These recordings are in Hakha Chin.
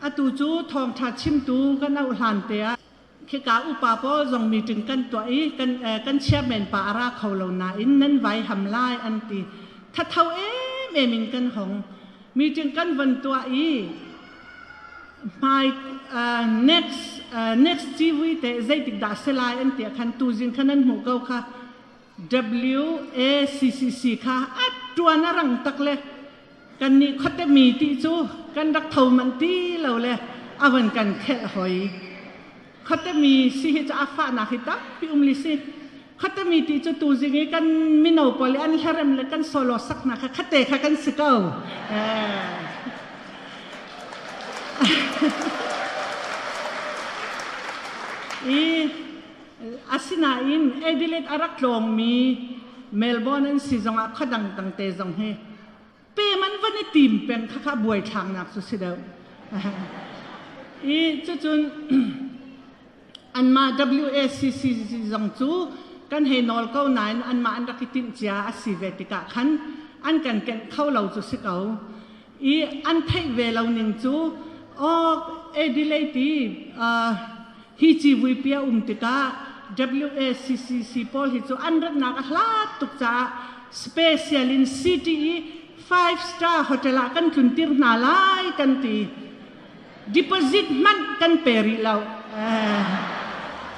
Atu cu thawngṭha chimtu kan ohan te ah khika upa pawl zong meeting kan tuah i kan chairman pa a ra kho lo nain nan vaiham lai an ti. Thatho emem in kan hong. Meeting kan von tuah i hmai next next TV te zeitik dah si lai an ti ah khan tuzing khan an hmuh ko kha. WACCC kha a ṭuan a rang tak le kannih khuatemi ti cu kan rak tho manh ti lo le a van kan khelh hoi. Khuatemi si hi cu a fahnak hi tampi um li si. Khuatemi ti cu tuzing i kan mino pawl i an hlarem le kan solo saknak kha khate kha kan si ko. Eh. I Asinain Adelaide a rak tlawngmi Melbourne an si zong ah khadang tangte zong hi pe man van i tim peng khakha buaithlaknak cu si deuh. I cucun anmah WACC zong cu kan hei nawl ko nain anmah an rak i timh cia a si ve tikah khan an kan kenh kho lo cu si ko. i an theih ve lo ning cu awk Adelaide hi civuipi a um tikah WACCC pawl hi cu an ratnak a hlat tuk caah special in CTE five star hotel ah kan tluntir hna lai kan ti deposit hmanh kan pe rih lo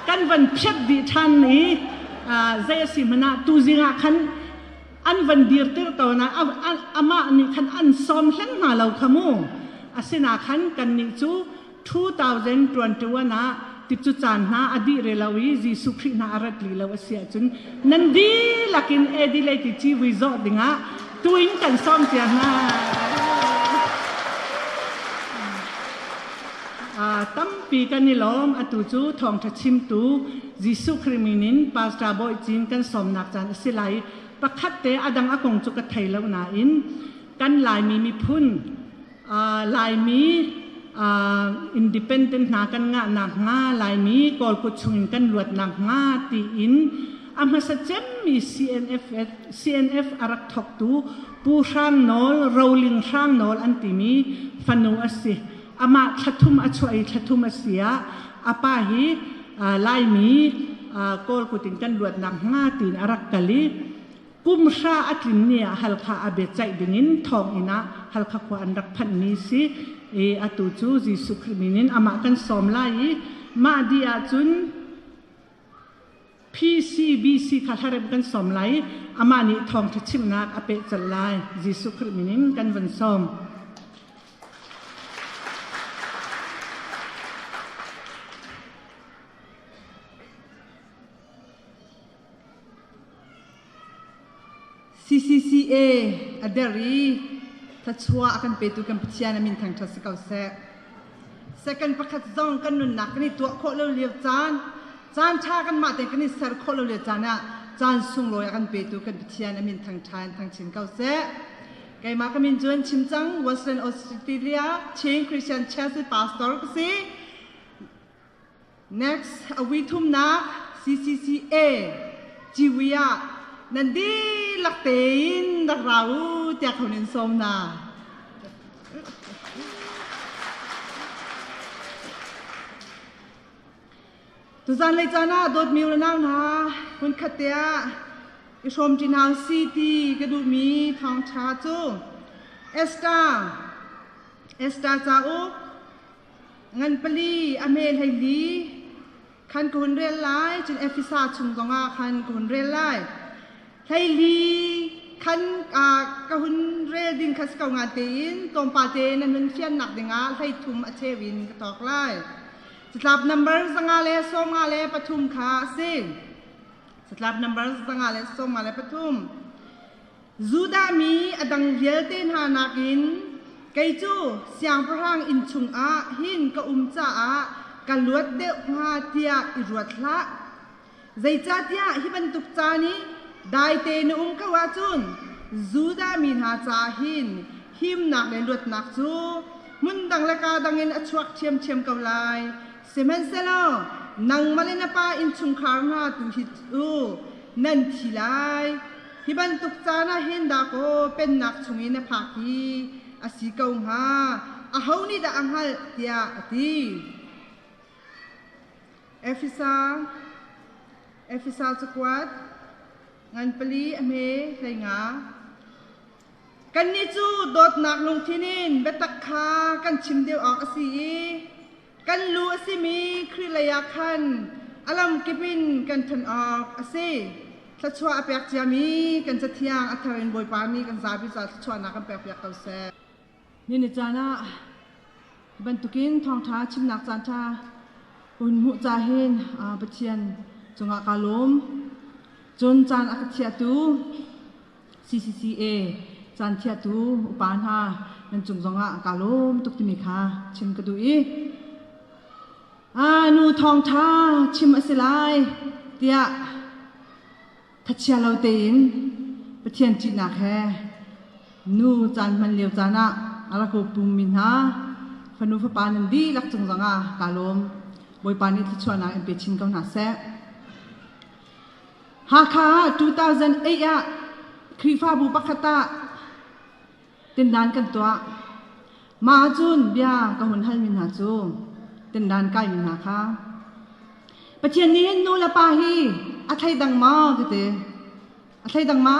kan van phiat dih ṭhan i zei a si hmanh ah tuzing ah khan an van dirter tawn ah amah nih khan an sawm hleng hna lo kha mu. Asinain khan kannih cu 2021 ah ti cu caan hna a dih rih lo i Jesuh Khrih hna a rat li lo a si ahcun nan dihlak in Adelaide ci vui zawh dingah tu in kan sawm cia hna. Tampi kan i lawm. Atu cu thawngṭha chimtu Jesuh Khrih min in Pastor Bawi Cin kan sawmnak caan a si lai. Pakhat te a dang a kong cu ka thei lo nain kan Laimi miphun, Laimi independent hna kan ngah nakhnga, Laimi Kawlkut chungin kan luat nakhnga tiin a hmasa cemmi CNF a rak thawktu Pu Hrang Nawl, Roling Hrang Nawl an timi fanu a si. amah thlathum a chuah i thlathum a si ah a pa hi Laimi Kawl kut in kan luat nakhnga tiin a rak kal i kumhra a tlin ni ah Halkha a biacaih dingin thawnginn ah Halkha khua an rak phanhmi si i atu cu Jesuh Khrih min in amah kan sawm lai i mah dih ahcun PCBC kha hlaremh kan sawm lai i amah nih thawngṭha chimhnak a peh colh lai. Jesuh Khrih minin kan vun sawm. CCCA a der i thluachuah a kan petu kan Pathian a min thangṭhat si ko seh. Second pakhat zong kan nunnak kan i tuah khawh lo lio caan, caan ṭha kan mah tein kan i ser khawh lo lio caan ah caan sunglawi a kan petu kan Pathian a min thangṭha in thangchin ko seh. Keimah ka min cu an chim cang Western Australia Chin Christian Church pastor ka si. Next a vui thumnak CCCA ciwi ah nan dihlak tein rak ra u tiah kho nin sawm na. Tuzan lei caan ah dawt miu ranang hna hun khat te ah i hrawm ṭinau si ti ka duhmi thawngṭha cu Esther Esther cauk ngan pali a hme hleili khan ka hun rel lai cun Efesa chung zongah khan ka hun rel lai hleili khan ka hun rel ding kha si ko nga tein tlawmpal te nan hun fiannak dingah hleithum a cheu in ka tok lai catlap number zanga le sawma le pathum kha a si catlap number zanga le sawma le pathum Judah mi a dang vialte hna nakin kei cu siangpahrang inn chungah hin ka um caah ka luat deuh hnga tiah i ruat hlah. Zeicahtiah hi bantuk caan i daite na um ko ahcun Judah mi hna caah hin himnak le luatnak cu hmun dang le kaa dangin a chuak ṭhiamṭhiam ko lai. Sihmanhsehlaw nangmah le na pa innchungkhar hna tu hi cu nan thi lai. Hi bantuk caan ah hin dahkaw Pennak chungin na phak hi a si ko hnga, aho nih dah a hngalh? tiah a ti. Efesa Efesa cakuat ngan pali a hme hlei nga. Kannih cu dawtnak lungthin in biatak kha kan chim deuh awk a si i Kan lu a simi Khrih leiah khan a lamkip in kan ṭhan awk a si. Thluachuah a pek ciami kan Cathiang a thar in Bawipa nih kan zapi caah thluachuahnak kan pekpiak ko seh. Nihin ni caan ah bantukin thawngṭha chimnak caanṭha un hmuh ca hin Pathian cungah kaa lawm. Cun caan a ka chiahtu CCCA caanchiatu upa hna nan cung zongah kaa lawm tuk timi kha chim ka duh i aa nu thawngṭha chim a si lai tiah thachia lo tein Pathian ṭihnak he nu caan hman lio caan ah a rak pummi hna fanu fapa nan dihlak cung zongah kaa lawm Bawipa nih thluachuahnak in pe chin ko hna seh. Hakha ah 2008 ah Khrihfabu pakhat ah tindan kan tuah. Mah ahcun bia ka hun halmi hna cu tindan kaimi hna kha Pathian nih hin nu le pa hi a thleidang maw ka ti. A thleidang ma?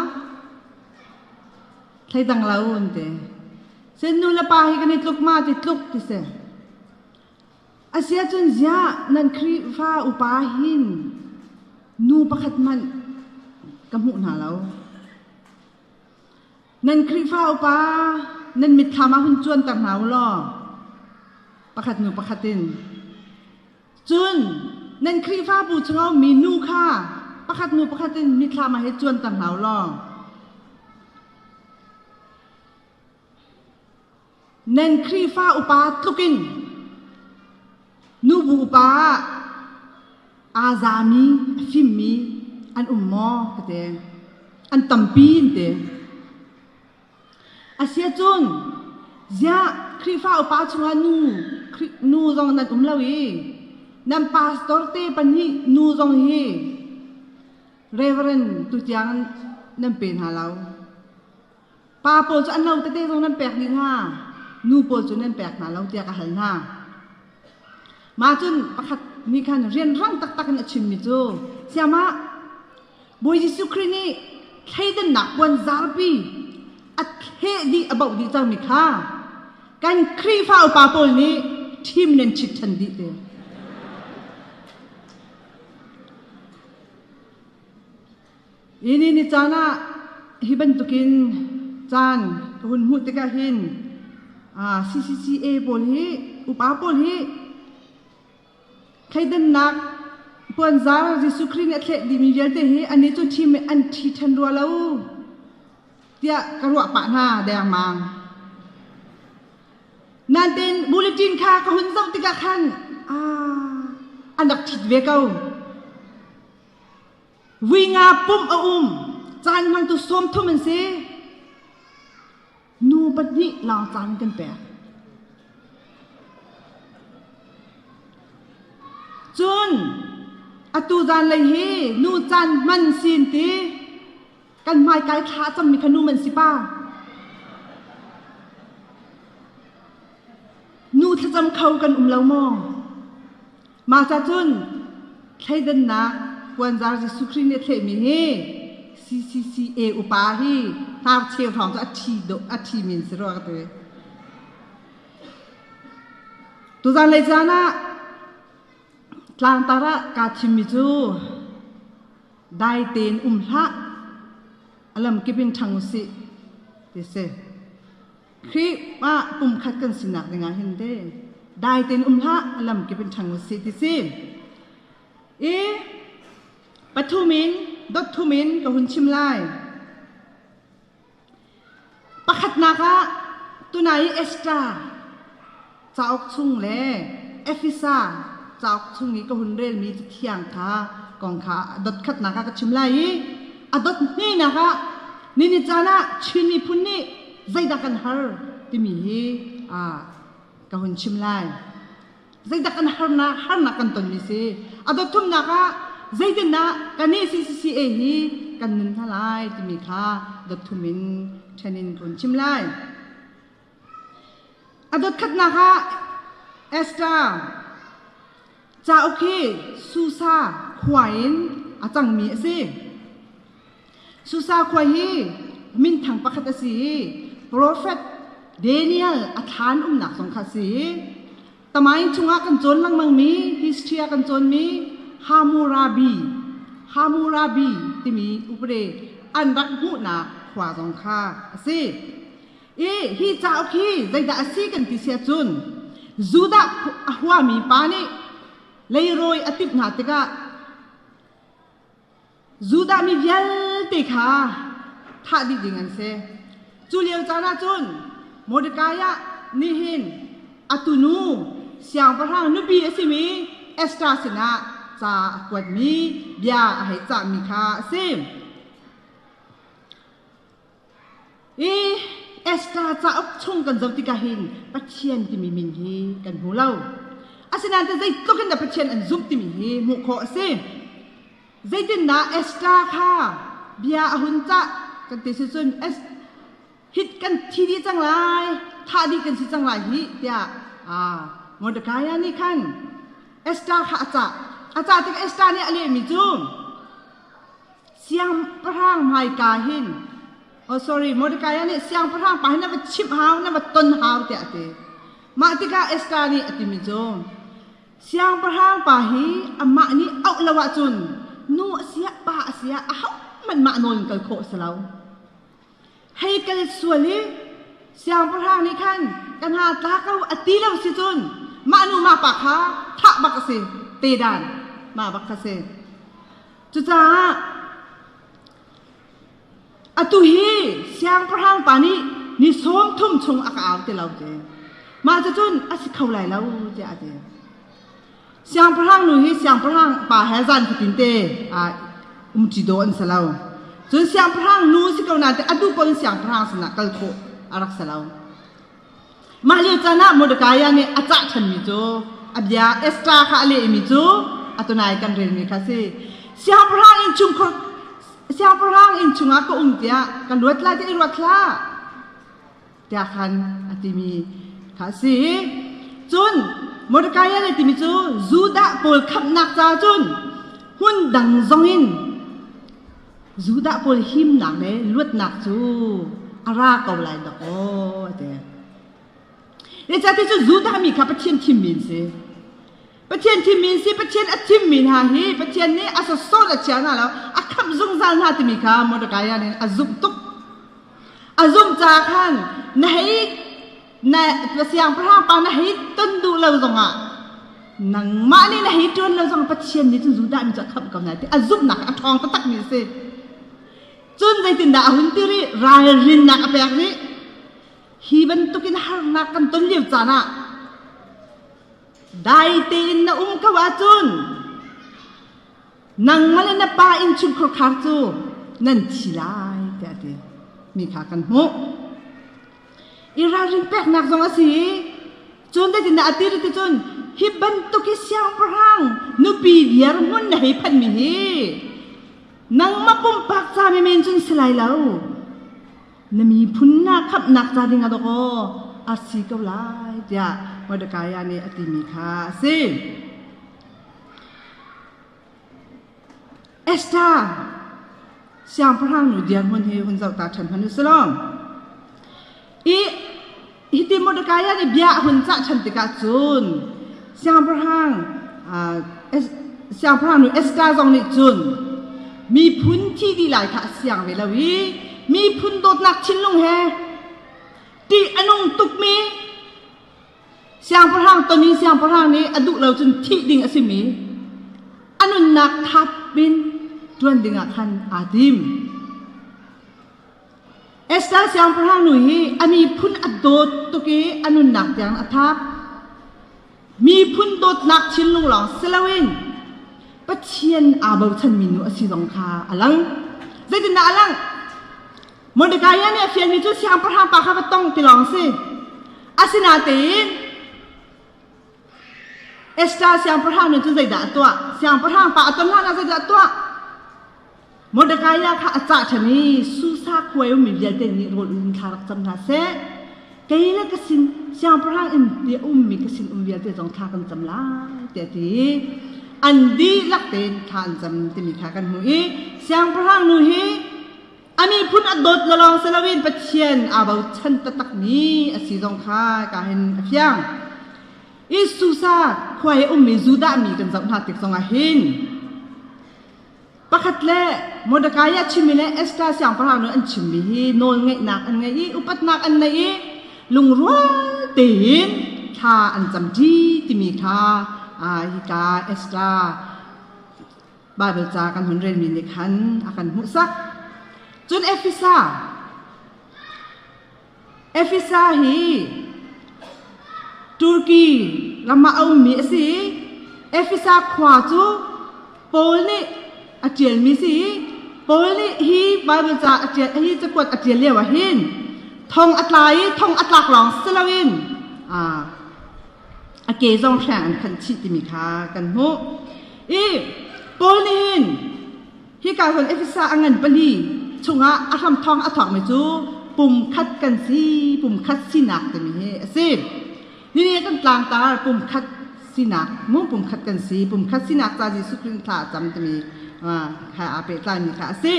Thleidang lo an ti. Cun nu le pa hi kan i tluk ma ti tluk ti si. Asiahcun ziah nan Khrihfa upa hin nu pakhat hmanh ka hmuh hna lo. Nan Khrihfa upa nan mitthlam ah hun cuanter hna u law pakhat nu pakhat in. Cun nan Khrihfabu chungah ummi nu kha pakhat nu pakhat in mitthlam ah hi cuanter hna u law. Nan Khrihfa upa tlukin nubu pa aa zami a fimmi an um maw ka ti. An tampi an ti. Asiahcun ziah Khrihfa upa chungah nu nu zong nan um lo i nan pastor te pahnih nu zong hi Reverend tutiang nan pe hna lo. Pa pawl cu an lo tete zong nan pek dih hnga nu pawl cu nan pek hna lo tiah ka hal hna. Mah cun pakhat nih khan rianrang taktak in a chimmi cu siamah Bawi Jesuh Khrih nih thleidannak puan zarpi a thleh dih a boh dih cangmi kha kan Khrihfa upa pawl nih ṭhim nan chit ṭhan dih te. Ini ni caan ah hi bantukin caan ka hun hmuh tikah hin CCCA pawl hi upa pawl hi thleidannak puanzar Jesuh Khrih nih a thleh dimi vialte hi anih cu thi me an thi ṭhan rua lo tiah ka ruah pah hna dengmang. Nanten bulletin kha ka hun zoh tikah khan an rak ṭhit ve ko. Vuinga pumh a um. Caan hmangtu sawmthum an si. Nu pahnih lawng caan kan pek. Cun atu zan lei hi nu caan hman sin ti kan hmai kai thla cangmi kha nu man si pa. Nu thlacam kho kan um lo maw? Masa cun thleidannak puanzar Jesuh Khrih nih a thlehmi hi CCCA upa hi hnarcheu hrawng cu a ṭhi dawh a ṭhimi an si rua ka ti. Tuzan lei caan ah tlangtar ah kaa thimmi cu dai tein um hlah, a lamkip in ṭhang u sih ti a si. Khrih ah pumkhat kan sinak ding ah hin te dai tein um hlah alam kip in ṭhang usih ti si. I pathum in dot thum in ka hun chim lai. Pakhatnak ah tunai Esther Cauk chung le Efesa cauk chung i ka hun relmi cathiang kha kong kha dotkhatnak ah ka chim lai i a dot hnenak ah ni ni caan ah Chin miphun nih zeidah kan har timi hi ka hun chim lai. Zeidak an harnak harnak kan tonmi si. A dot thumnak ah zeitindah kan i CCCA hi kan nun hna lai timi kha dot thum in ṭhen in ka hun chim lai. A dotkhatnak ah Esther cauk hi Susa khua in a cangmi a si. Susa khua hi minthang pakhat a si i profet Daniel a thlan umnak zong kha a si i Tamain chungah kan cawn lengmangmi history ah kan cawnmi Hammurabi Hammurabi timi upade an rak hmuhnak khua zong kha a si. i hi cauk hi zeidah a si kan ti sia cun Judah a huami pa nih leirawi a timh hna tikah Judah mi vialte kha thah dih ding an si. Cu lio caan ah cun Mordecai ah nihin atu nu siangpahrang nupi a simi Esther sinah ca a kuatmi bia a hei cahmi kha a si. Esther cauk chung kan zoh tikah hin Pathian timi min hi kan hmu lo. Asinain zeitluk in dah Pathian an zumh timi hi hmuh khawh a si. Zeitindah Esther kha bia a hun cah kan ti si cun hit kan thi dih cang lai, thah dih kan si cang lai hih tiah Mordecai nih khan Esther kha a cah. A cah tikah Esther nih a lehmi cu, siangpahrang hmaika hin oh sorry Mordecai nih siangpahrang pa hi na va chimh hau na va ton hau tiah a ti mah tikah Esther nih a timi cu siangpahrang pa hi amah nih auh lo ahcun nu a si ah pa a si ah ahohmanh mah nawl in kal khawh a si lo hei kal sual i siangpahrang nih khan ka hna tla ko a ti lo si cun mah nu ma pa kha thah bak a si tedan ma bak kha si cucaah atu hi siangpahrang pa nih ni sawm thum chung a ka au ti lo ti mah cu cun a si kho lai lo tiah a ti Siangpahrang nu hi siangpahrang pa he zan fatin te aa um ci daw an si lo. Cun siangpahrang nu si ko nain a duh paoh in siangpahrang sinah kal khawh a rak si lo. Mah lio caan ah Mordekai nih a cah chanmi cu a bia Esther kha a lehmi cu a tunai kan relmi kha a si. Siangpahrang inn chung siangpahrang inn chungah ka um tiah ka luat lai tiah i ruat hlah. tiahkhan a timi kha a si. Cun Mordecai nih timi cu Judah pawl khamhnak caah cun hmun dang zong in Judah pawl himnak le luatnak cu a ra ko lai dok aw a ti. Ecah ti cu Judah mi kha Pathian thimmi an si. Pathian thimmi si Pathian a thimmi hna hi Pathian nih a sawsawt a chia hna lo a khamh zungzal hna timi kha Mordecai nih a zumh tuk a zumh caah khan na hei na siangpahrang pa na hei ton duh lo zongah nangmah nih na hei ṭuan lo zongah Pathian nih cun Judah mi cu a khamh ko hna ti a zumhnak a ṭhawng taktakmi a si cun zeitindah a hun ti rih ralrinnak a pek rih hi bantukin harnak kan ton lio caan ah Dai tein na um ko ahcun nang le na pa innchungkhar khar cu nan thi lai tiah a ti mi kha kan hmuh. I ralrin peknak zong a si i cun zeitindah a ti cun hi bantuk hi siangpahrang nupi viar hmun na hei phanmi hi nangmah pumpak ca men men cun si lai lo. na miphun na khamhnak ca ding ah dawk aw a si ko lai tiah Mordecai nih a timi kha a si. Esther siangpahrang nu dirhmun hi hun zoh ta ṭhan hmanh u sih law i Hiti Mordekai ah bia a hun cah ṭhan tikah cun siangpahrang uh, siangpahrang nu Esther zong nih cun miphun thi dih lai kha a siang ve lo i miphun dawtnak thinlung he ṭih a nung tukmi siangpahrang ton i siangpahrang nih a duh lo cun thih ding a simi a nunnak thap in ṭuan dingah khan aa tim. Esther siangpahrang nu hi a miphun a dawt tuk i a nunnak tiang a thap. Miphun dawtnak thinlung lawng si loin Pathian aa bochanmi nu a si zong kha a lang. Zeitindah a langh? Mordekai nih a fianmi cu siangpahrang pa kha va tong ti lawng si. Asinain Esther siangpahrang nih cun zeidah a tuah? Siangpahrang pa a ton hlanah zeidah a tuah? Mordecai kha a cah ṭhan i Susa khua i ummi vialte nih rawl in thla rak cam hna seh. Kei le ka sin siangpahrang inn i a ummi ka sinum vialte zong thla kan cam lai, tiah ti i an dihlak tein thla an cam timi kha kan hmuh i siangpahrang nu hi a miphun a dawt lo lawng si loin Pathian aa bochan taktakmi a si zong kha hika hin a fiang. I Susa khua i ummi Judah mi kan zoh hna tik zongah hin pakhat le Mordecai a chimmi le Esther siangpahrang nih an chimmi hi nawlngeihnak an ngei i upatnak an nei i lungrual tein thla an cam ṭi timi kha hika Esther Baibal ca kan hun relmi nih khan a kan hmuhsak. Cun Efesa Efesa hi Turki ram ah a ummi a si i Efesa khua cu Paul nih a ṭialmi a si i Paul nih hi Baibal ca a ṭial hi cakuat a ṭial lioah hin thong a tla i thong a tlak lawng si loin a ke zong hreng an phanh chih timi kha kan hmuh. I Paul nih hin Hika cun Efesa a ngan pali chungah a hramthawng a thawngmi cu pumkhat kan si, pumkhat sinak timi hi a si. Nihin kan tlangtar pumkhat sinak, mu pumkhat kan si, pumkhat sinak ca Jesuh Khrih thla a cam timi kha aa pehtlai mi kha a si.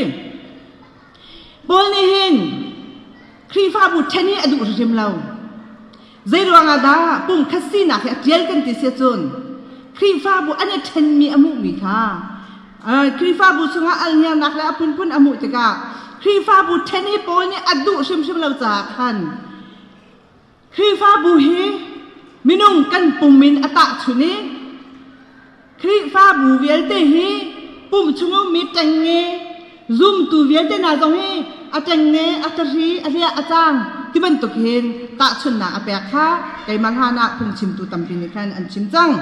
Paul nih hin Khrihfabu ṭhen hi a duh hrimhrim lo. Zeiruang ah dah pumkhat sinak hi a ṭial kan ti si cun Khrihfabu an i ṭhenmi a hmuhmi kha Khrihfabu chungah alhniarnak le a phunphun a hmuh tikah Khrihfabu ṭhen i pawi nih a duh hrimhrim lo caah khan Khrihfabu hi minung kan pum in a tahchun i Khrihfabu vialte hi pumh chung a ummi ṭengnge, zumtu vialte hna zong hi a ṭengnge, a ṭahri, a hliah, a cang ti bantuk hin tahchunhnak a pek kha keimah hlanah phungchimtu tampi nih khan an chim cang.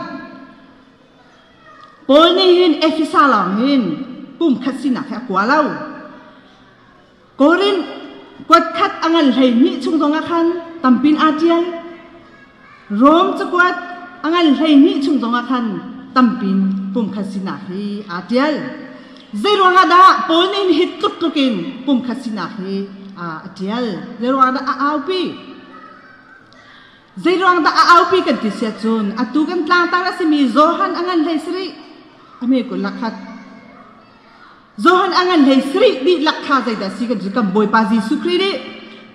Paul nih hin Efesa lawng hin pumkhat sinak hi a kua lo. Korinth kuat khat a ngan hleihnih chung zongah khan tampin aa ṭial. Rom cakuat a ngan hleihnih chung zongah khan tampin pumkhat sinak hi aa ṭial. Zeiruangah dah Paul nih hi tluk tlukin pumkhat sinak hi aa a ṭial? Zeiruangah dah a aupi? Zeiruangdah a aupi kan ti siah cun atu kan tlangtar a simi Johan a ngan hlei si rih. A me kul lakhat. Johan a ngan hlei sarih dihlak kha zeidah si kan si kan Bawipa Jesuh Khrih nih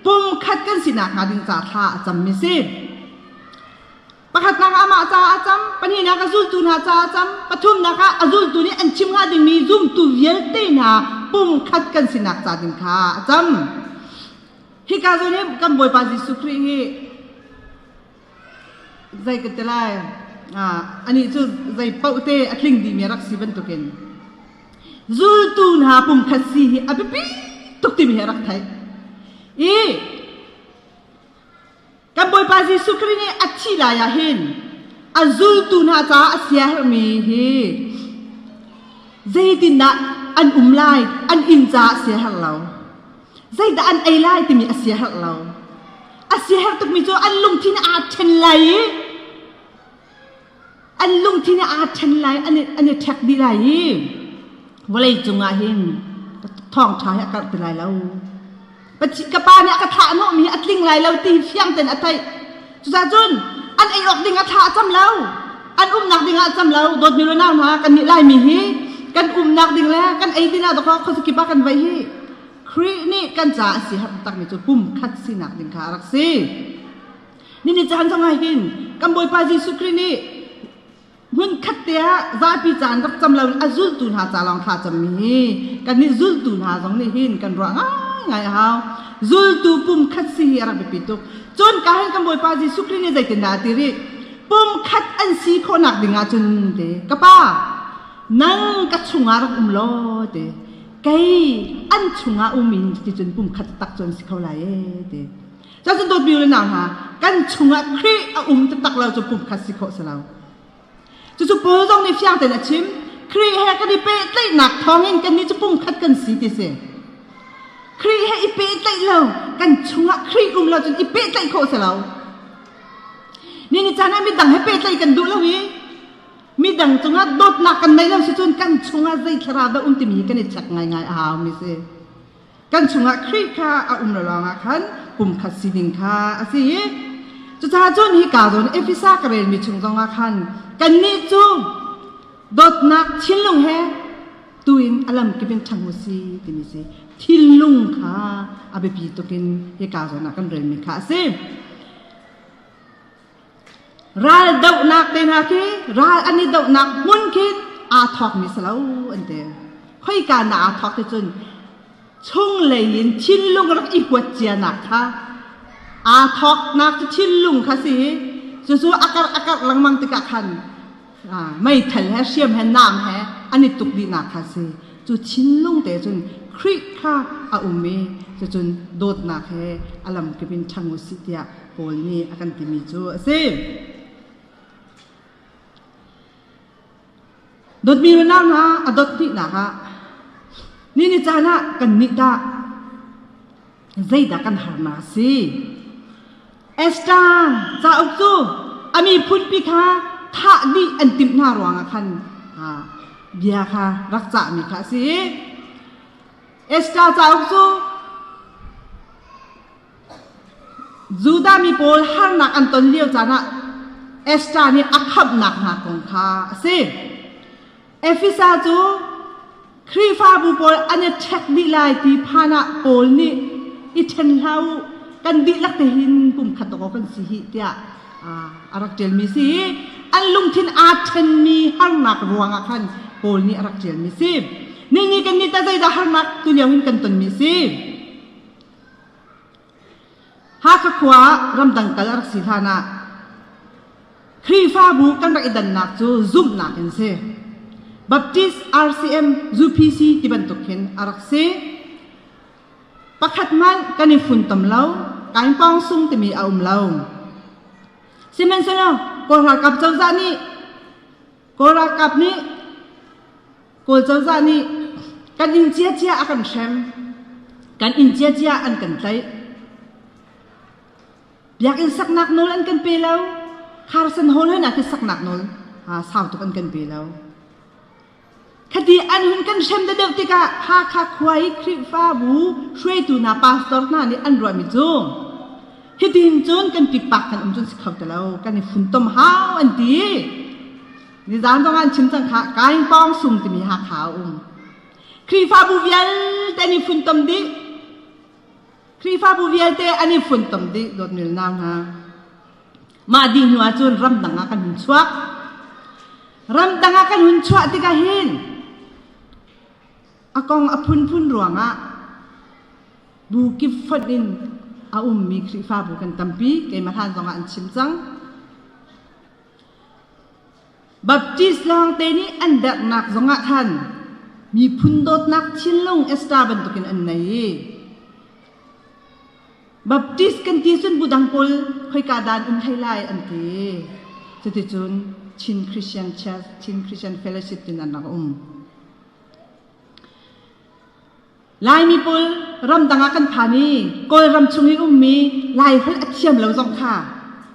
pumkhat kan sinak hnga ding ca thla a cammi si. Pakhatnak ah amah caah a cam, pahnihnak a zultu hna caah a cam, pathumnak ah a zultu nih an chim hnga dingmi zumtu vialte hna pumkhat kan sinak ca ding kha a cam. Hika zu nih kan Bawipa Jesuh Khrih hi Zei ka ti lai, anih cu zei paoh te a tling dimi a rak si bantukin zultu hna pumkhat si hi a biapi tuk timi hi a rak theih. I kan Bawipa Jesuh Khrih nih a thih lai ah hin a zultu hna caah a siaherhmi hi zeitindah an um lai, an inn caah a siaherh lo. Zeidah an ei lai timi a siaherh lo. A siaherh tukmi cu an lungthin aa ṭhen lai i an lungthin aa ṭhen lai, an i, an i ṭhek dih lai i vawlei cungah hin thawngṭha hi a karh ti lai lo. Ka pa nih a ka thlah hnawhmi hi a tling lai lo ti hi fiang tein a theih. Cucaah cun an ei awk ding a thla a cam lo. An umnak ding ah a cam lo. Dawtmi le nau hna, kannih Laimi hi kan umnak ding le kan ei ding ah dawkah khuazakip ah kan vaih hi Khrih nih kan caah a si har takmi cu pum khat sinak ding kha a rak si. Nini caan zong ah hitin kan Bawipa Jesuh Khrih nih Hmunkhat te ah zapi caan rak cam loin a zultu hna ca lawng thla cammi hi kannih zultu hna zong nih hin kan ruah ngaingai a hau. Zultu pum khat si hi a rak biapi tuk. Cun ka hin kan Bawipa Jesuh Khrih nih zeitindah a ti rih? Pum khat an si khawhnak ding ah cun te ka Pa nang ka chungah rak um law te kei an chungah um in cuticun pum khat tak cu an si kho lai ee te. Cun dawtmi u le nau hna, kan chungah Khrih a um taktak lo cu pumkhat si khawh si lo. Cucu Paul zong nih fiang tein a chim. Khrih he kan i pehtlaihnak thawngin kannih cu pumkhat kan si ti si. Khrih he i pehtlaih lo, kan chungah Khrih um lo cun i pehtlaih khawh si lo. Ni ni caan ah midang he pehtlaih kan duh lo i midang cungah dawtnak kan nei lo si cun kan chungah zei thlarau dah um timi hi kan i check ngaingai a haumi si. kan chungah Khrih kha a um lo lawngah khan pumkhat sining kha a si i cucaah cun hi kaa zawn Efesa ka relmi chung zongah khan kannih cu dawtnak thinlung he tuin a lamkip in ṭhang u si timi si thinlung kha a biapi tukin hi kaa zawn ah kan relmi kha a si Ral dohnak te hna khi ral an i dohnak hmun khi aa thawkmi si lo an ti. Khoika na aa thawk ti cun chunglei in thinlung rak i huat cianak kha aa thawknak cu thinlung kha si i cucu a karh a karh lengmang tikah khan meithal he hriam he naam he an i tuk dihnak kha si cu thinlung te cun Khrih kha a um i cucun dawtnak he a lamkip in ṭhang u sih tiah Paul nih a kan timi cu a si. Dawtmi unau hna a dawt hnihnak ah ni ni caan ah kan nih dah zeidah kan harnak a si? Esther cauk cu a miphunpi kha thah dih an timh hna ruangah khan bia kha rak cahmi kha a si i Esther cauk cu Judah mi pawl harnak an ton lio caan ah Esther nih a khamhnak hna kong kha a si. Efesa cu Khrihfabu pawl an i ṭhek dih lai ti phan ah Paul nih i ṭhen hlah u, kan dihlak te hin pumkhat awk kan si hih tiah a rak ṭialmi si i an lungthin aa ṭhenmi harnak ruangah khan Paul nih a rak ṭialmi si. Nihin ni kan nih tah zeidah harnak tulio in kan tonmi si? Hakha khua ah ramdang kal a rak si hlanah Khrihfabu kan rak i dannak cu zumhnak in si. Baptist RCM UPC ti bantuk hin a rak si. Pakhat hmanh kan i funtom lo. Kain pawng sung timi a um lo. Sihmanhsehlaw Kawl ralkap cozah nih Kawl ralkap nih Kawl cozah nih kan inn ciacia a kan hrem, kan inn ciacia an kan tlaih. Biakinn saknak nawl an kan pe lo. Kharsan hall hoi nak hi saknak nawl aa sau tuk an kan pe lo. Thadi an hun kan hrem deuhdeuh tikah Hakha khua i Khrihfabu hruaitu hna pastor hna nih an ruahmi cu hitin cun kan pipak kan um cun si kho ti lo kan i funtom hau an ti. Nizan zong an chim cang kha Kaingpawng sung timi Hakha a um. Khrihfabu vialte an i funtom dih. Khrihfabu vialte an i funtom dih dawt milnau hna. Mah dih hnu ahcun ramdang ah kan hun chuak. Ramdang ah kan hun chuah tikah hin a kong a phunphun ruangah bu kip fonh in a ummi Khrihfabu kan tampi. Keimah hlan zongah an chim cang. Baptist lawngte nih an dernak zongah khan miphun dawtnak thinlung esta bantukin an nei i Baptist kan ti cun budang pawl khoika dan um hlei lai an ti. Cuticun Chin Christian Church, Chin Christian Fellowship tin an rak um. Laimi pawl ramdang ah kan phan i Kawlram chung i ummi Laiholh a thiam lo zong kha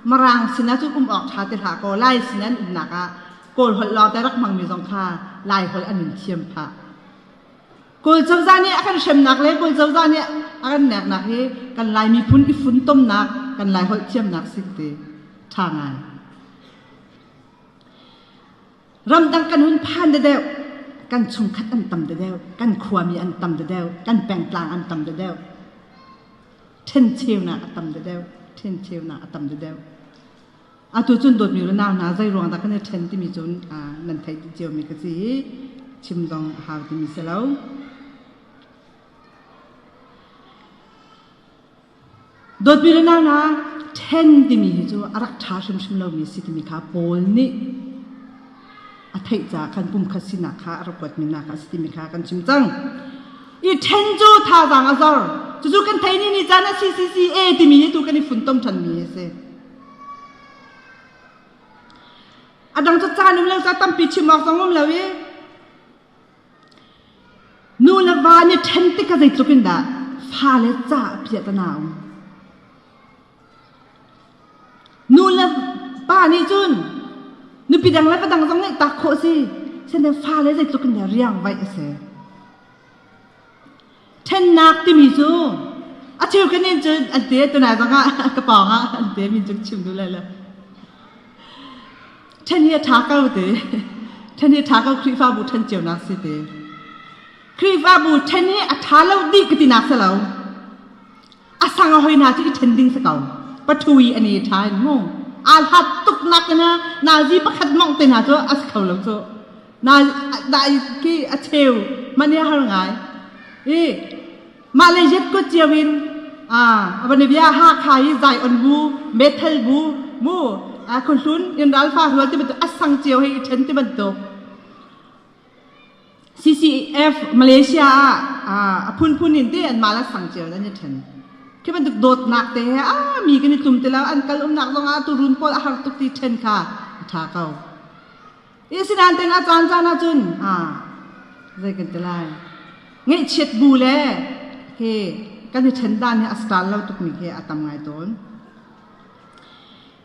Marang sinah cun um awk ṭha ti hlah kaw Lai sinah an umnak ah Kawlholh lawng te rak hmangmi zong kha Laiholh an in thiam phah. Kawl cozah nih a kan hremnak le Kawl cozah nih a kan neknak hi kan Lai miphun i funtomnak, kan Lai holh thiamnak sin ti ṭha ngai. Ramdang kan hun phan dedeuh, kan chungkhat an tam dedeuh, kan khuami an tam dedeuh, kan pengtlang an tam dedeuh. Ṭhencheunak a tam dedeuh, ṭhencheunak a tam dedeuh. Atu cun dawtmi unau hna zeiruang dah kan i ṭhen timi cu nan theih ciomi ka si i chim zong a hau timi si lo. Dawtmi unau hna ṭhen timi hi cu a rak ṭha hrimhrim lomi a si timi kha Paul nih a theih caah khan pumkhat sinak kha a rak kuatmi hna kha a si timi kha kan chim cang. I ṭhen cu thazaang a zor. Cucu kan theih ni ni caan a si, si, si, e timi hi tu kan i funtom ṭhanmi a si. Adang cacaan um lo, ca tampi chim awk zong um lo i nu le va nih ṭhen tikah zeitluk in dah fale ca a piah tana um. Nu le pa nih cun nupi dang le va dang zong nih taak khawh a si. Sende fale zeitluk in dah riang vaih a si. ṭhennak timi cu a cheukan in cun an te tunai bangah ka pawngah an te min cu chim duh lai lo ṭhen hi a ṭha ko te ṭhen hi ṭha ko Khrihfabu ṭhen cionak si te Khrihfabu ṭhen hi a ṭha lo dih ka tinak si lo a sang a hoi hna cu i ṭhen ding si ko. Pathui an i ṭha in mu. Aa hlat tuk nakin ah nazi pakhat mawngh te hna cu a si kho lo cu. Na dai khi a cheu man hi a har ngai. I mah le Yet kut cio in a van i bia Hakha i Zion bu, Bethel bu mu a khuhlun in ralfa rual ti bantuk a sang cio hei i ṭhen ti bantuk. CCF Malaysia ah a phunphun in te anmah le sang cio in an i ṭhen. Khi bantuk dawtnak te he a mi kan i tlum ti lo. An kal umnak zongah tuurun pawl a har tuk ti ṭhen kha a ṭha ko. Asinain tengah caan caan ahcun zei kan ti lai. Ngaihchiat bu le khi kan i ṭhen dan hi a star lo tukmi khi a tam ngai tawn.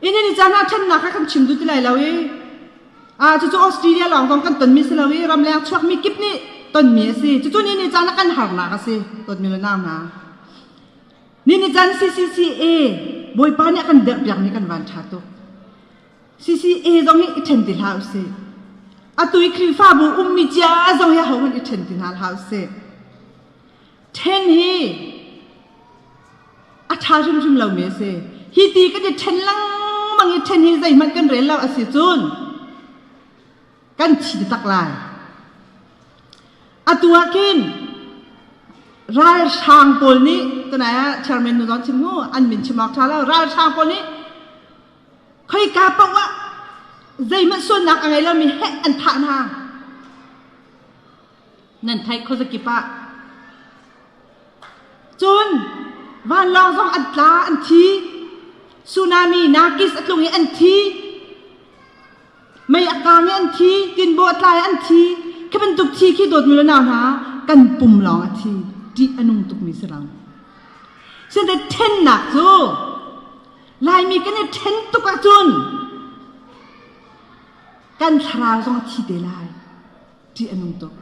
Inn in i caan ah ṭhannak kha kan chim duh ti lai lo i cucu Australia lawng zong kan tonmi si lo i ramleng chuakmi kip nih tonmi a si. Cucu ni ni caan ah kan harnak a si dawtmi le nau hna. Ni ni caan CCCA Bawipa nih a kan derpiakmi kan van ṭha tuk. CCA zong hi i ṭhen ti hlah usih. Atu i Khrihfabu ummi cia zong hi ahohmanh i ṭhen ti hna hlah usih. Ṭhen hi a ṭha hrimhrim lomi a si. Hi ti kan i ṭhen lengmang i ṭhen hi zeihmanh kan rel lo a si cun kan thi te tak lai. Atu ah khin ralhrang pawl nih tunai ah chairman nu zawn chim hu an min chim awk ṭha lo ralhrang pawl nih khoika paoh ah zeihmanh sualnak a ngei lomi heh an thah hna. Nan theih khuazakip ah? Cun vanlawng zong an tla an thi. Tsunami nakis a tlung i an thi. Mei a kang i an thi. Tinbaw a tlai an thi. Khi bantuk thi khi dawtmu le nau hna kan pum lawng a thi. Ṭih a nung tukmi si lo. Site ṭhennak cu Laimi kan i ṭhen tuk ahcun kan thlarau zong a thi te lai. ṭih a nung tuk.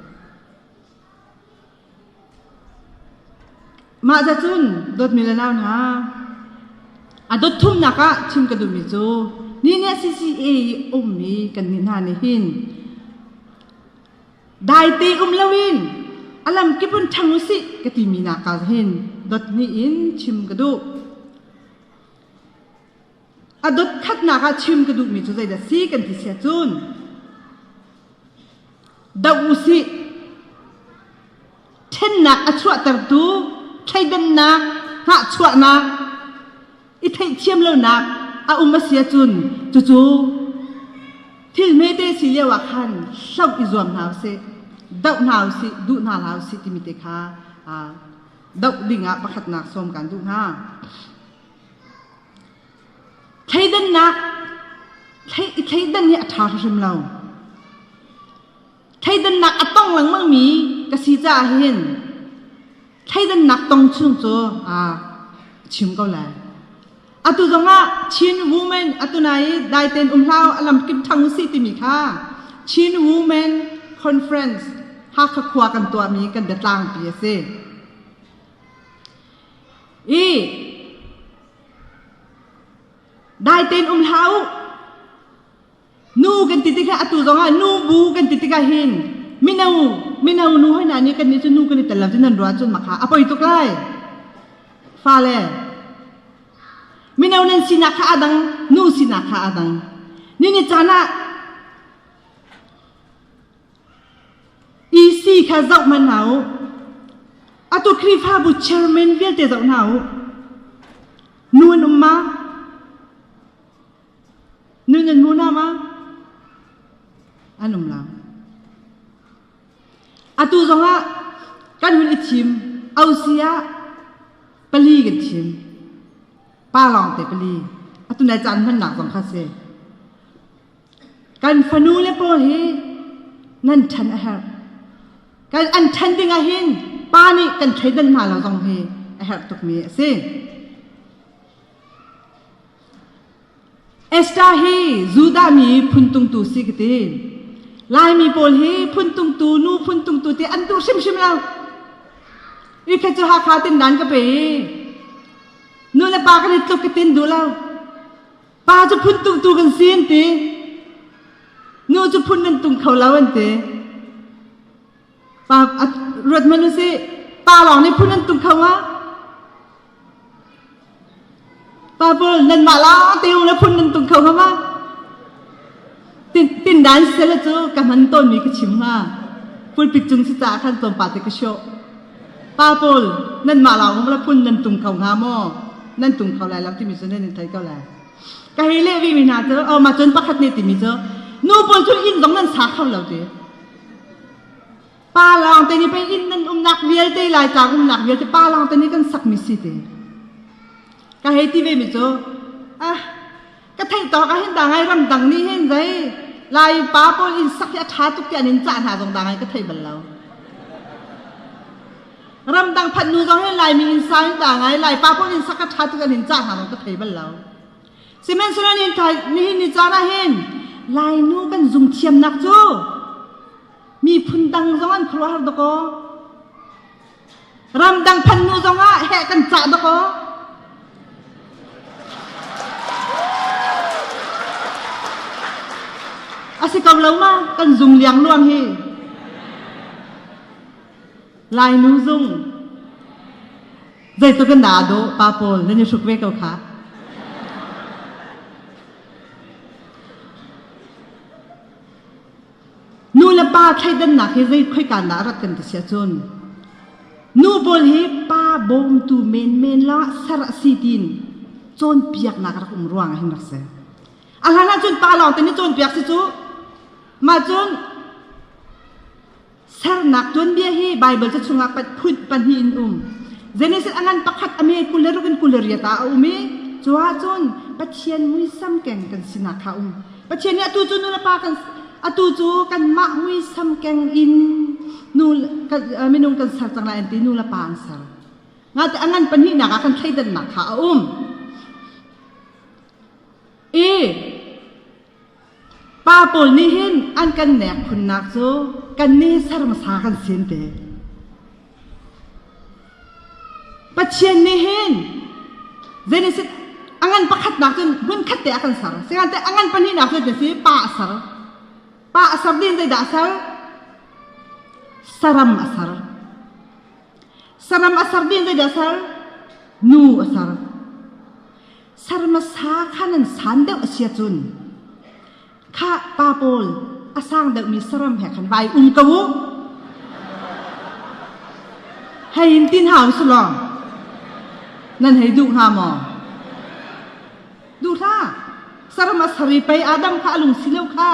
Mahca cun dawtmi le nau hna, a dawt thumnak ah chim ka duhmi cu ni nih a si si i ummi kannih hna nih hin daite um loin a lamkip in ṭhang u sih ka timi nakah hin dot hnih in chim ka duh. A dotkhatnak ah chim ka duhmi cu zeidah si kan ti sia cun doh u sih. Ṭhennak a chuahtertu thleidannak, hngahchuahnak, i theithiam lonak a um a sia cun cucu thil hmete si lio ah khan hloh i zuam hna u sih. Doh hna u sih, duh hna hlah u sih timi te kha aa doh ding ah pakhatnak sawm kaan duh hna. Thleidannak a ṭha hrimhrim lo. Thleidannak a tong lengmangmi ka si caah hin thleidannak tong chung cu aa chim ko lai. Atu zongah Chin Women atu nai i dai tein um hlah u, a lam kim ṭhang u si timi kha Chin Women Conference Hakha khua kan tuahmi kan biatlangpi a si. Dai tein um hlah u. Nu kan ti tikah atu zongah nu bu kan ti tikah hin mino mino nu hoi hna nih kannih cu nu kan i tel lo tiin an ruah cun makha a poi tuk lai. Fale mino nan sinak kha aa dang nu sinak kha aa dang. Nin i caan ah EC kha zoh hmanh hna u. Atu Khrihfabu chairman vialte zoh hna u. Nu an um ma? Nu nan hmu na ma? An um lo. Atu zongah kan hun i thim. Ausi ah pali kan thim. Pa lawng te pali. Atu nai caan hmannak zong kha si. Kan fanule pawl hi nan ṭhen a herh. Kan an ṭhen ding ahhin pa nih kan thleidan hna lo zong hi a herh tukmi a si. Esther hi Judah mi phun tungtu si ka ti. Laimi pawl hi phun tungtu, nu phun tungtu ti an duh hrimhrim lo. I khe cu Hakha tin dan ka pe i, nu le pa kan i tluk ka tin duh lo. Pa cu phun tumtu kan si an ti. Nu cu phun nan tum kho lo an ti. Pa a, ruat hmanh u sih. Pa lawng nih phun an tum kho hnga. Pa pawl nanmah lawngte u le phun nan tum kho hnga ma? Tindan sele cu ka hman tawnmi ka chim hnga. Pulpit cung si caah khan tlawmpal te ka hrawh. Pa pawl, nanmah lawng la phun nan tung kho hnga maw? Nan tung kho lai lo timi cu nan in thei ko lai. Ka hei leh vemi hna cu, oh, ma cun pakhat nih timi cu, nu pawl cu inn zong nan sa kho lo ti. Pa lawng te nih pei inn nan umnak vialte Laitlang umnak vialte pa lawng te nih kan sakmi si ti. Ka hei ti vemi cu, ah, ka theihtawk ah hin dang ai ramdang nih hin zei lai pa pawl inn sak hi a ṭha tuk tiah in cah hna zong dang ai ka thei bal lo ramdang phat nu zong hin laimi inn sa hin dang ai lai pa pawl inn sak a ṭha tuk tiah in cah hna zong ka thei bal lo sihmanhsehlaw nihin kha nihin ni caan ah hin lainu kan zung thiamnak cu miphun dang zong an khuaruahhar dakaw Ramdang phannu zongah heh kan cah dakaw. A si ko lo ma kan zung liangluang hi. Lainu zung. Zeicu kan dah do pa pawl nan i hruk ve ko kha. Nu le pa thleidannak hi zei khoika dah a rat kan ti sia cun nu pawl hi pa bawmtu menmen la ser a si tiin cawnpiaknak rak um ruang ah hin rak si a hlan ahcun pa lawng ten i cawnpiak si cu mah cun Sernak tuanbia hi Baibal ca chungah phun pahnih in um. Genesis a ngan pakhat a me kul le ruk in kul le riat ah a um i cu ah cun Pathian muisam keng kan sinak kha um. Pathian nih atu cu nulepa kan atu cu kanmah muisam keng in nu kan, uh, minung kan ser cang lai an ti nulepa an ser. Ngate a ngan pahnihnak ah kan thleidannak kha a um. I Pa pawl nih hin an kan nek khunnak cu kannih serhmasa kan sin te. Pathian nih hin Genesis a ngan pakhatnak cun hmunkhat te a kan ser. Sihmanhseh a ngan pahnihnak cu a si pa a ser. Pa a ser ding zeidah a ser? Saram a ser. Saram a ser ding zeidah a ser? Nu a ser. Ser hmasa kha nan san deuh a si ahcun khah pa pawl a sang deuhmi saram he khan vai um ko u. Hei in tin hau si law nan hei duh hnga maw? Duh hlah. Saram a sari pei aa dang kha a lung si lo kha.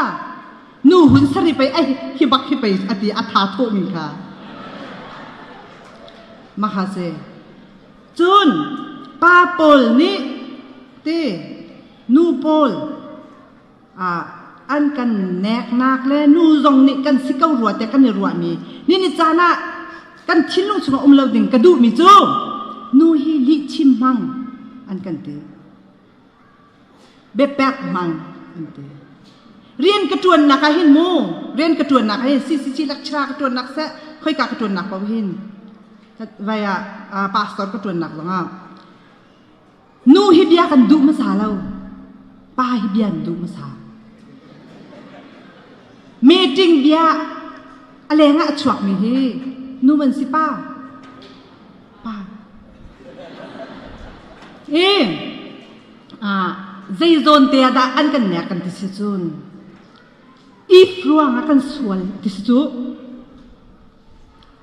Nu hun sari pei ai hi bak hi pei a ti a tha thawmi kha. Mahase Cun pa pawl nih ti nu pawl ah an kan neknak le nu zong nih kan si ko rua tiah kan i ruahmi nini caan ah kan thinlung chungah um lo ding ka duhmi cu nu hi lihchim hmang an kan ti. biapek hmang an ti. Rian ka ṭuannak ah hin mu, rian ka ṭuannak ah hin CCC lecturer ka ṭuannak seh, khoika ka ṭuannak paoh hin vai ah uh, pastor ka ṭuannak zongah nu hi bia kan duh hmasa lo, pa hi bia an duh hmasa. Meeting bia a leng ah a chuakmi hi nu man si pa, Zeizawnte ah dah an kan nek kan ti si cun if ruang ah kan sual ti si cu.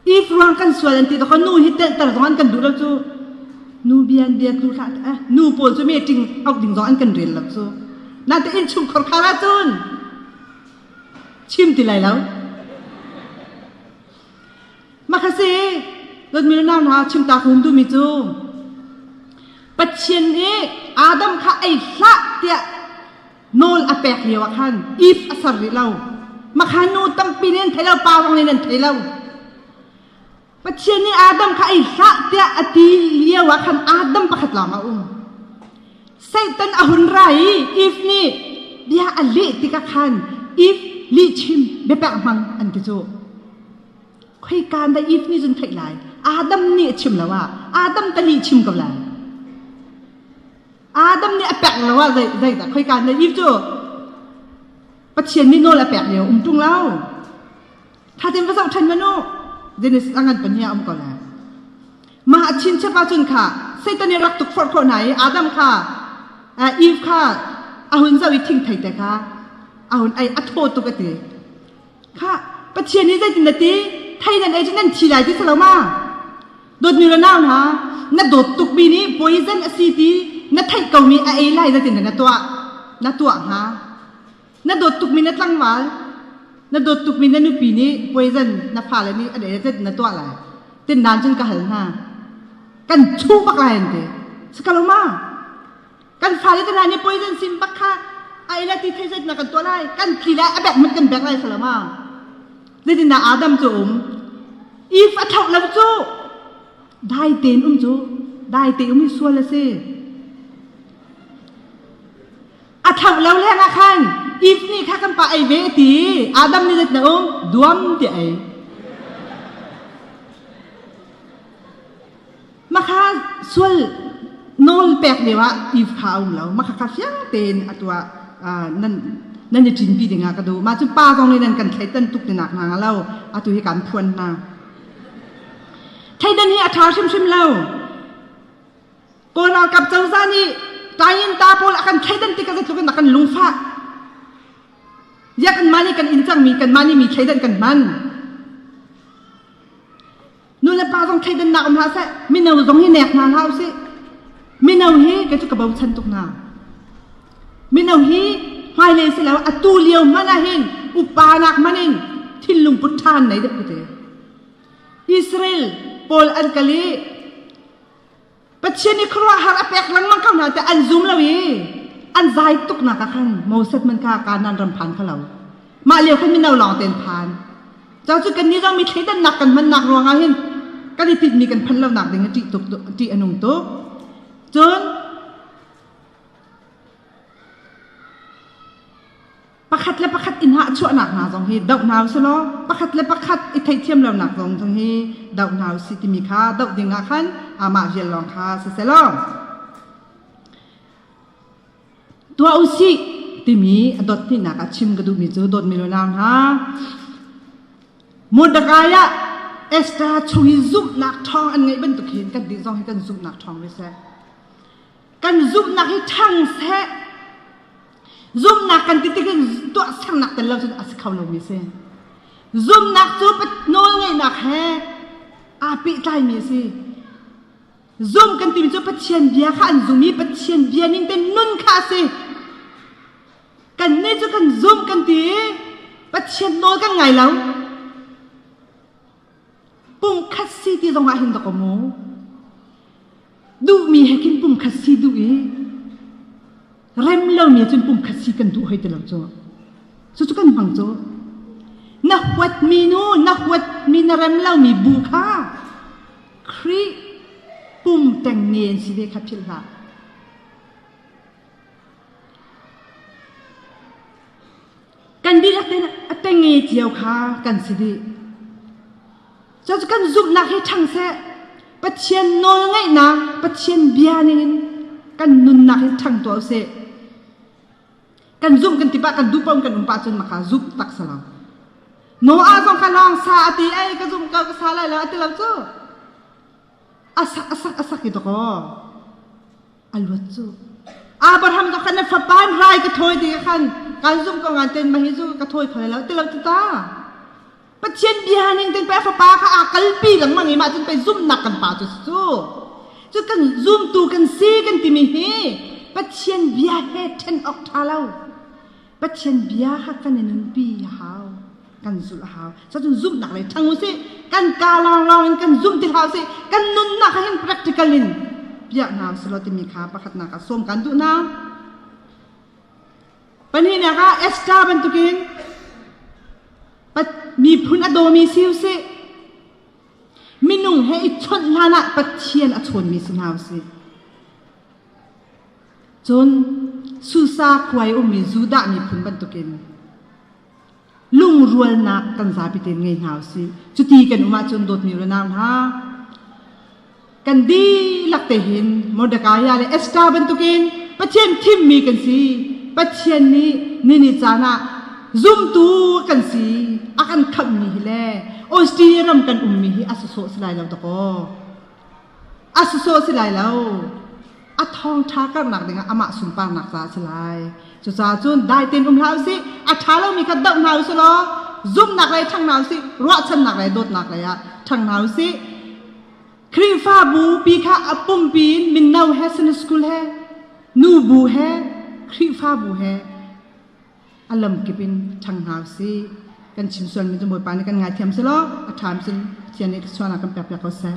If ruang kan sual an ti to nu hi telter zong an kan duh lo cu nu bian bia tlu thla eh nu pawl cu me ting auk ding zong an kan rel lo cu na te in chung khor khara cun chim ti lai lo Mahase Donmir nau hna chimtak hun duhmi cu Pathian i Adam kha ei hlah tiah nawl a pek lio ah khan if a ser rih lo. Makha nu tampi nih an thei lo, pa zong nih an thei lo. Pathian nih Adam kha ei hlah tiah a ti lio ah khan Adam pakhat lawng a um. Satan a hun ra i Eve nih bia a leh tikah khan Eve lihchim biapek hmang an ti cu. Khoika da Eve nih cun theih lai? Adam nih a chim lo ah Adam ka lihchim ko lai. Adam nih a pek lo ah zei zeidah khoika da Eve cu Pathian nih nawl a pek lio um ṭung lo. Thatin va zoh ṭhen maw nu. Dennis a ngan pahnih a um ko le. Mah a chinchap ahcun kha Satan i rak tuk forh khawh hna i Adam kha Eve kha a hun zoh i thingthei te kha a hun ei a thaw tuk a ti. Kha Pathian nih zeitin na ti? Thei nan ei cu nan thi lai ti si lo ma? Dawtmi le nau hna, na dawt tukmi nih poison a si ti na theih komi a ei lai zeitindah na tuah? Na tuah hnga? Na dawt tukmi na tlangval, na dawt tukmi na nupi nih poison na fale nih an ei na tuah lai. Tindan cun ka hal hna. Kan chu bak lai an ti. Si ka lo ma? Kan fale te hna nih poison sim bak kha a ei le ti thei zet na kan tuah lai. Kan tli lai a bek mit kan bek lai sala ma. Zeitin dah Adam cu um. Eve a thlauh lo cu dai tein um cu dai tein um hi sual a si. A ṭhangh lo lengah khan Eve nih kha kan pa ei ve a ti. Adam nih let na um duam tiah ei. Makha sual nawl pek lio ah Eve kha a um lo. Makha kha fiang tein a tuah nan nan i cinpi dingah ka duh. Mah cu pa zong in nan kan thleitan tuk tinak hna lo. Atu hi kaan phuan hna. Thleidan hi a ṭha hrimhrim lo. Kawl ralkap cozah nih Tainta pawl a kan thleidan tik ah zeitluk in a kan lungfah. Ziah kanmah nih kan in cangmi kanmah nih mi thleidan kan hman. Nu le pa zong thleidannak um hlah seh, mino zong hi nek hna hlah usih. Mino hi kei cu ka bochan tuk hna. Mino hi hmailei si lo atu lio hmanh ah hin upa nak hmanh in thinlung put ṭhan nei deuh ka ti. Israel pawl an kal i Pathian i khuaruahhar a pek lengmang ko hna tiah an zum lo i an zai tuknak ah khan Moses man kha Kanaan ram phan kha lo mah lio khan mino lawng tein phan cang cu kannih zong mi thleidannak kan hmannak ruangah hin kan i tinhmi kan phanh lonak ding i ṭih tuk ṭih a nung tuk cun pakhat le pakhat i hngah chuahnak hna zong hi doh hna usih law pakhat le pakhat i theihthiam lonak zong zong hi doh hna usih timi kha doh dingah khan amah vial lawng kha siselaw tuah usih timi a dot hnihnak ah chim ka duhmi cu dawtmi le nau hna Mordecai ah Esther chung i zumhnak ṭhawng an ngeih bantuk hin kan ti zong hi kan zumhnak ṭhawng ve seh kan zumhnak hi ṭhang seh Zumnak kan ti tik in tuahsernak tel lo cun a si kho lomi si. Zumnak cu nawlngeihnak he aa pehtlaimi a si. Zum kan timi cu Pathian bia kha an zum i Pathian bia ning tein nun kha a si. Kannih cu kan zumh kan ti i Pathian nawl kan ngai lo. Pumkhat si ti zongah hin dok a mu. Duhmi he khin pumkhat si duh i rem lomi cun pumkhat si kan duh hoi ti lo cu. Cucu kan hmang cu. Na huatmi nu, na huatmi na rem lomi bu kha Khrih pum teng ne an si ve kha philh hlah. kan dihlak tein a teng i cio kha kan si dih. Cucu kan zumhnak hi ṭhang seh, Pathian nawlngaihnak, Pathian bia ningin kan nunnak hi ṭhang tuah usih. Kan zumh kan ti pah, kan duh paoh in kan um pah cun maka zumh tak si lo. Noah zong kha lawng sa a ti ei ka zumh ko ka sa lai lo a ti lo cu. A sak a sak a sak i dawkaw. a luat cu Abraham ka khan na fapa hmai ka thawi ti ka khan kan zumh ko ngan ten ma hi cu ka thawi kho lo ti lo ti ta Pathian bia ning ten pe fapa ka a kalpi lengmang i mah cun pe zumnak kan pa cu cu cu kan zumtu kan si kan timi hi Pathian bia he ṭhen awk ṭha lo Pathian bia ha kan i nunpi a hau. Kan zulh a hau. Cun zumhnak lei ṭhang u sih. Kan kaa lawnglawng in kan zumh ti hlah u sih. Kan nunnak ah hin practical in piah hna u sih law timi kha pakhatnak ah sawm kan duh hna. Pahnihnak ah Esther bantukin miphun a dawmi si u sih. Minung he i chawnh hlanah Pathian a chawnmi si hna u sih. Cun Susa-kuai ummi Judah miphun bantukin lungrualnak kan zapi tein ngei hna u sih. Cuti kan um ahcun dawtmi unau hna, kan dihlak te hin Mordekai le Esther bantukin Pathian thimmi kan si. Pathian nih nini caan ah zumtu kan si a kan khamhmi hi le Austria ram kan ummi hi a sawsawh si lai lo takaw. a sawsawh a si lai lo a thawngṭha karhnak dingah amah sunparnak ca a si lai cucaah cun dai tein um hlah u sih a ṭha lomi kha doh hna u sih law zumhnak lei ṭhang hna u sih ruahchannak lei dawtnak lei ah ṭhang hna u sih Khrihfabu pi kha a pumpi in mino he Sunday school he nu bu he Khrihfabu he a lam kip in ṭhang hna usih. Kan chim sualmi cu Bawipa nih kan ngaithiam seh law a ṭham cun Pathian nih sualnak kan pek piak ko seh.